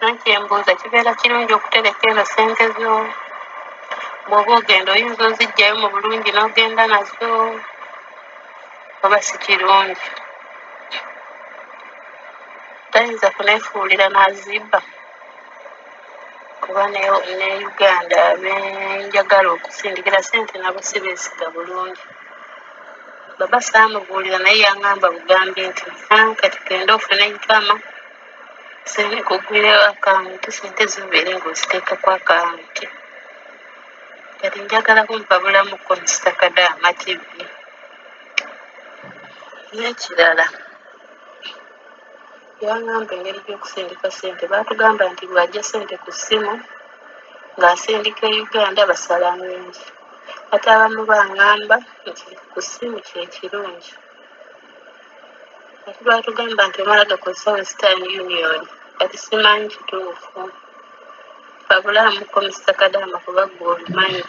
Nanti embuuza kibeera kirungi okutereka eno sente zo bwoba ogenda oyinza ozijjayo mu bulungi n'ogenda nazo oba si kirungi tayinza kunefuulira n'azibba kuba ne ne uganda benjagala okusindikira sente nabo si beesiga bulungi baba saamubuulira naye yang'amba bugambi nti "Ah, kati genda ofune nkama Nsabye kugulirawo akawunti sente zibeere nga oziteeka ku akawunti kati njagala kumpabulamu konsita kadaama kibbi n'ekirala yangamba engeri gy'okusindika sente baatugamba nti bw'ajja sente ku ssimu ng'asindika e uganda basala ngungi ate abamu bangamba nti ku ssimu kye kirungi ati batugamba nti omala gakozesa western union kati simanyi kituufu babulamuko musakadaama kuba gwe obimanyi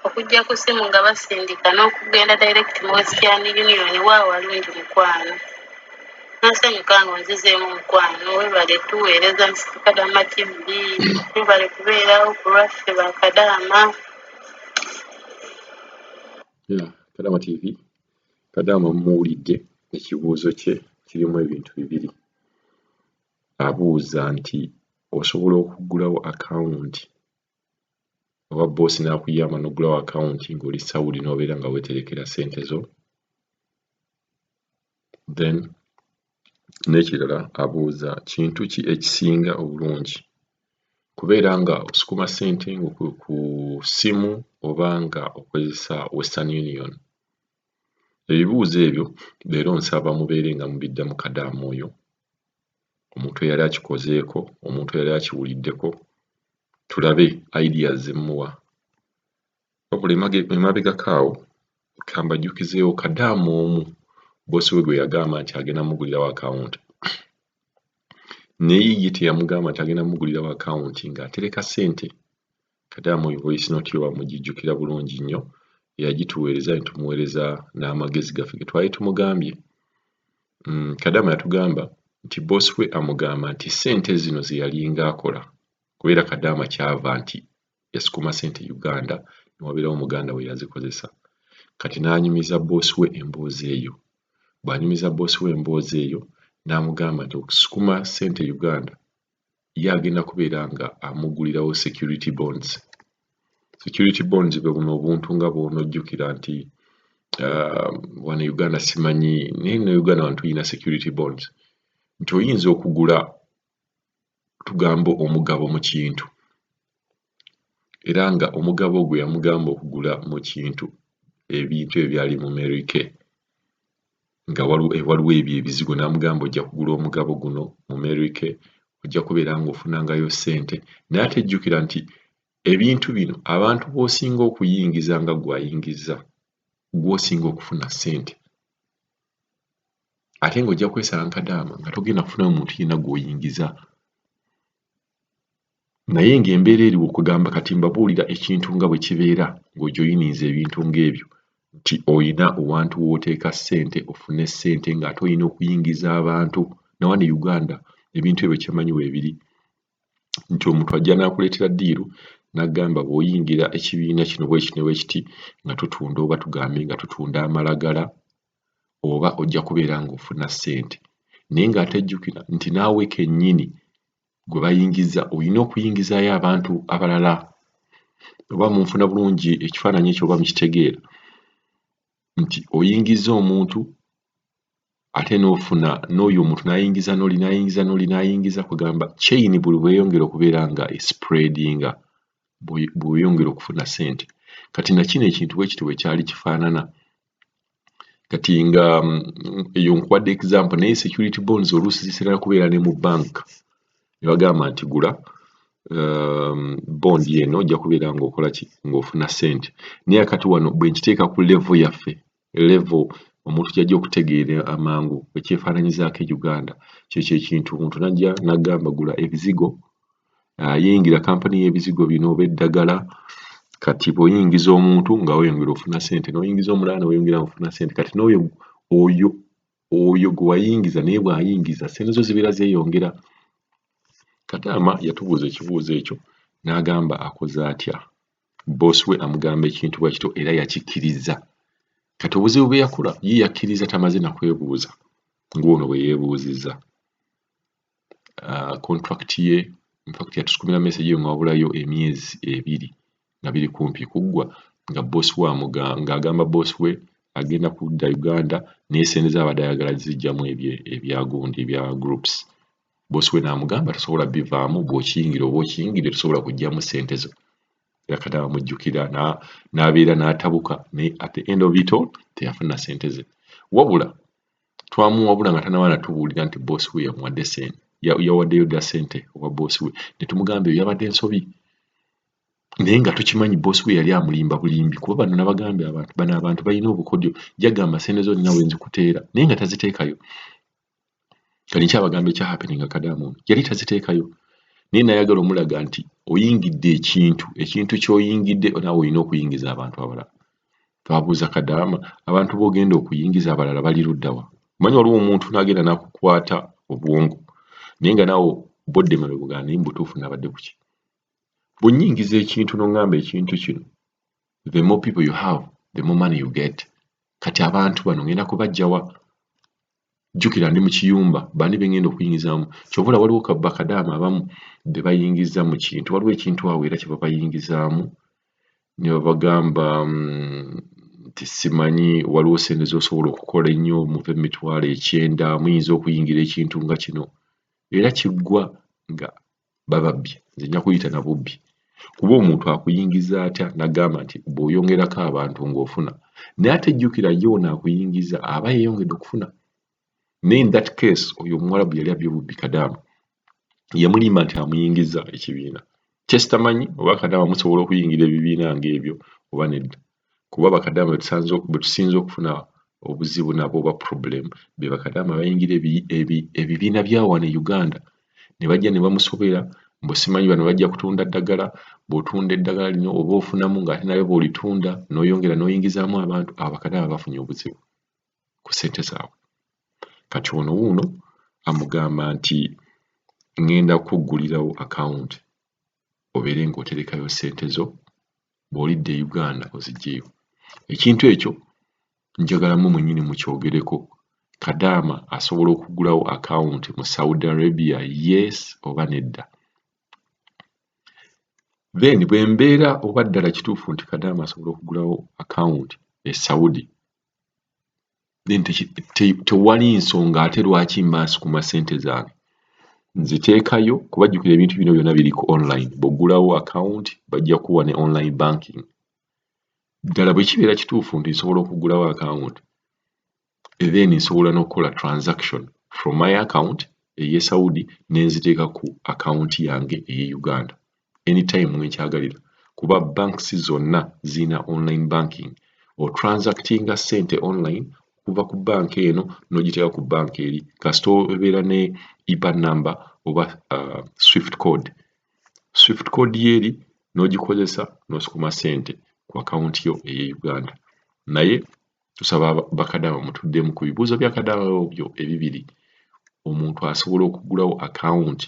okujja ku simu nga basindika n'okugenda direct mu western union wa walungi mukwano nsanyuka nga onzizeemu mukwano webale tuweereza musakadaama tv webale kubeerawo ku lwaffe bakadaama Yeah, Kadama TV. Kadama muwulidde ekibuuzo kye kirimu ebintu bibiri. Abuuza nti osobola okuggulawo akawunti oba bboosi n'akuyamba n'oggulawo akawunti ng'oli Saudi n'obeera nga weeterekera ssente zo. Then n'ekirala abuuza kintu ki ekisinga obulungi, kubeera nga osukuma ssente ngo ku ku ssimu oba nga okozesa western union? Ebibuuzo ebyo leero nsaba mubeere nga mubiddamu kadaama oyo omuntu eyali akikozeeko, omuntu eyali akiwuliddeko tulabe ideas ze mmuwa. wabula emabegako awo kambajjukizeewo kadaama omu bosi we gwe yagamba nti agenda mugulirawo akawunti naye ye teyamugamba nti agenda mugulirawo akawunti ng'atereka ssente kadaama oyo voice note yo bamugijjukira bulungi nnyo eyagituweereza ne tumuweereza n'amagezi gaffe ge twali tumugambye mm, kadaama yatugamba nti bosi we amugamba nti ssente zino ze yalinga akola kubeera kadaama kyava nti yasukuma sente uganda newaberawo muganda we yazikozesa kati nanyumiza boss we emboozi eyo bwanyumiza boss we emboozi eyo namugamba nti okusukuma sente uganda ye agenda kubeera nga amugulirawo security bonds security bonds bwe buno obuntu nga bwonojjukira nti uh, wano e uganda simanyi naye ne uganda wano tulina security bonds nti oyinza okugula tugamba omugabo mu kintu era nga omugabo gwe yamugamba okugula mu kintu ebintu ebyali mu Mary Kay nga eh, waliwo ebyo ebizigo n'amugamba ojja kugula omugabo guno mu Mary Kay ojja kubeera ng'ofunangayo ssente naye ate jjukira nti ebintu bino abantu b'osinga okuyingiza nga gw'ayingiza gw'osinga okufuna ssente ate nga ojja kwesala nkadaama nga togenda kufunayo muntu yena gwoyingiza naye nga embeera eri okugamba kati mbabuulira ekintu nga bwe kibeera ng'ojoyininza ebintu ng'ebyo nti olina owantu w'oteeka ssente ofune ssente ng'ate olina okuyingiza abantu nawane uganda ebintu ebyo kyemanyi weebiri nti omuntu ajja n'akuleetera ddiiru n'agamba bw'oyingira ekibiina kino bwekino bwekiti nga tutunda oba tugambe nga tutunda amalagala oba ojja kubeera ng'ofuna ssente naye ng'ate jjukira nti naawe kennyini gwe bayingiza olina okuyingizaayo abantu abalala oba munfuna bulungi ekifaananyi ekyo oba mukitegeera nti oyingiza omuntu ate n'ofuna n'oyo omuntu n'ayingiza n'oli n'ayingiza n'oli n'ayingiza kugamba kyeyini buli bweyongera okubeera nga esipureedinga bweyongera okufuna ssente kati nakino ekintu bwe kiti bwe kyali kifaanana kati nga mm, eyo nkuwadde example naye security bonds oluusi zisinana kubeera ne mu bank ne bagamba nti gula um, bond eno ojja kubeera ngaokola ki ngaofuna sente naye akati wano bwe nkiteeka ku level yaffe level omuntu kyajja okutegeera amangu ekyefaananyizaako e uganda kyekyo ekintu omuntu najja nagamba gula ebizigo ah, yeyingira kampani y'ebizigo bino oba eddagala kati bw'oyingiza omuntu nga weyongera ofuna sente n'oyingiza omulala ne weyongera ofuna sente kati n'oyo oyo oyo gwe wayingiza naye bw'ayingiza sente zo zibeera zeeyongera kataama yatubuuza ekibuuzo ekyo n'agamba akoze atya boosi we amugamba ekintu bwa kityo era yakikkiriza kati obuzibu bwe yakula ye yakkiriza tamaze nakwebuuza ng'ono bwe yeebuuzizza uh, contract ye infact yatusukumira message nga wabulayo emyezi ebiri nga biri kumpi kuggwa nga boss we ng'agamba boss we agenda kudda uganda naye sente zaabadde ayagala zijjamu ebyagundi ebya groups boss we n'amugamba tosobola bivaamu bw'okiyingira oba okiyingire tosobola kujjamu sente zo yakati abamujjukira n'abeera n'atabuka naye at the end of it all teyafuna sente ze wabula twamuwabula nga tanaba natubuulira nti boss we yamuwadde sente yawaddeyo dda sente owa boss we netumugamba eyo yabadde nsobi naye nga tukimanyi boss we yali amulimba bulimbi kuba bano nabagambye abantu bano abantu balina obukodyo jagamba sente zo nina wenzikuteera naye nga taziteekayo kati nkyabagamba ekya happening akadamu ono yali taziteekayo naye nayagala omulaga nti oyingidde ekintu ekintu kyoyingidde naawe olina okuyingiza abantu abalala Twabuuza Kadaama, Abantu b'ogenda okuyingiza abalala bali ludda wa? Omanyi waliwo omuntu n'agenda n'akukwata obwongo naye nga naawe bodde emabega ogamba naye mu butuufu nabadde ku ki? Bwe nnyingiza ekintu n'oŋŋamba ekintu kino, the more people you have, the more money you get. Kati abantu bano ngenda kubaggya wa? jjukira ndi mu kiyumba bani be ngenda okuyingizaamu kyova olaba waliwo bakadaama abamu be bayingiza mu kintu waliwo ekintu awo era kye babayingizaamu ne babagamba mm, nti simanyi waliwo sente z'osobola okukola ennyo muva emitwalo ekyenda muyinza okuyingira ekintu nga kino era kiggwa nga bababbye nze nja kuyita na bubbi kuba omuntu akuyingiza atya nagamba nti bw'oyongerako abantu ng'ofuna naye ate jjukira ye ono akuyingiza aba yeyongedde okufuna naye in that case oyo omuwalabu yali abye bubbi kadaamu yamulimba nti amuyingiza ekibiina kyesitamanyi oba kadaamu musobola okuyingira ebibiina ng'ebyo oba nedda kuba bakadaama betusinze okufuna obuzibu nabo oba problem bebakadaama bayingira ebibiina byawano e uganda nebajja nebamusobera mbu simanyi bano bajja kutunda ddagala bwotunda eddagala lino oba ofunamu ngaate naye bwolitunda noyongera noyingizaamu abantu abo bakadaama bafunye obuzibu ku sente zaabwe kati ono wuuno amugamba nti ngenda kukuggulirawo akawunti obeere ng'oterekayo ssente zo bw'olidda e Uganda oziggyeyo. Ekintu ekyo njagala mmwe mwennyini mukyogereko. Kadaama asobola okuggulawo akawunti mu Saudi Arabia yes oba nedda? Then bwe mbeera oba ddala kituufu nti Kadaama asobola okuggulawo akawunti e Saudi then tewali nsonga ate lwaki mbaasi ku masente zange nziteekayo kuba jjukira ebintu bino byonna biri ku online bw'oggulawo akawunti bajja kuwa ne online banking ddala bwe kibeera kituufu nti nsobola okuggulawo akawunti then nsobola n'okukola transaction from my account eye saudi ne nziteeka ku akawunti yange eye uganda anytime wenkyagalira kuba banks zonna zirina online banking otransactinga sente online okuva ku banka eno nogiteeka ku banka eri kasita obeera ne ipa number oba uh, swift code swift code yeeri nogikozesa nosukuma sente ku akawunti yo eye uganda naye tusaba bakadama mutuddemu ku bibuuzo byakadama byo ebibiri omuntu asobola okugulawo akawunti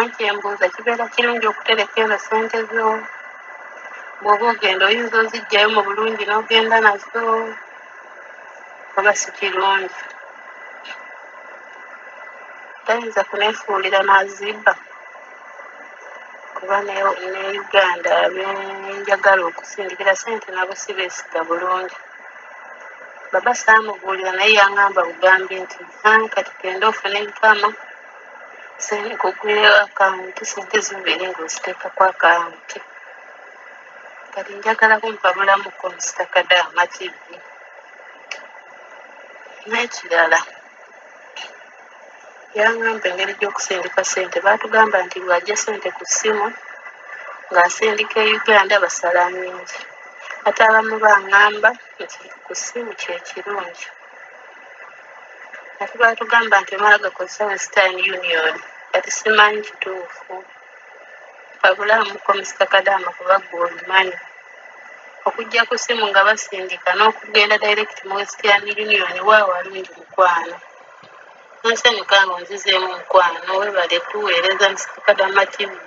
Anti embuuza kibeera kirungi okutereka eno ssente zo bw'oba ogenda oyinza oziggyayo mu bulungi n'ogenda nazo oba si kirungi tayinza kuneefuulira n'azibba kuba ne ne uganda benjagala okusindikira ssente nabo si beesiga bulungi baba saamubuulira naye yang'amba bugambi nti "Ah, kati genda ofune enkama Sente kugulira akawunti sente zibeera nga oziteekako akawunti kati njagala kumpa bulamu konsita kadaama kibbi n'ekirala yangamba engeri gy'okusindika sente baatugamba nti bw'ajja sente ku ssimu ng'asindika e uganda basala nnyingi ate abamu bangamba nti ku ssimu kye kirungi ati batugamba nti omala gakozesa western union kati simanyi kituufu abulamuko musita kadaama kuba gwe obimanyi okujja ku ssimu nga basindika n'okugenda direct mu western union waawo alungi mukwano nsanyuka nga onzizeemu mukwano webale tuweereza musita kadaama tv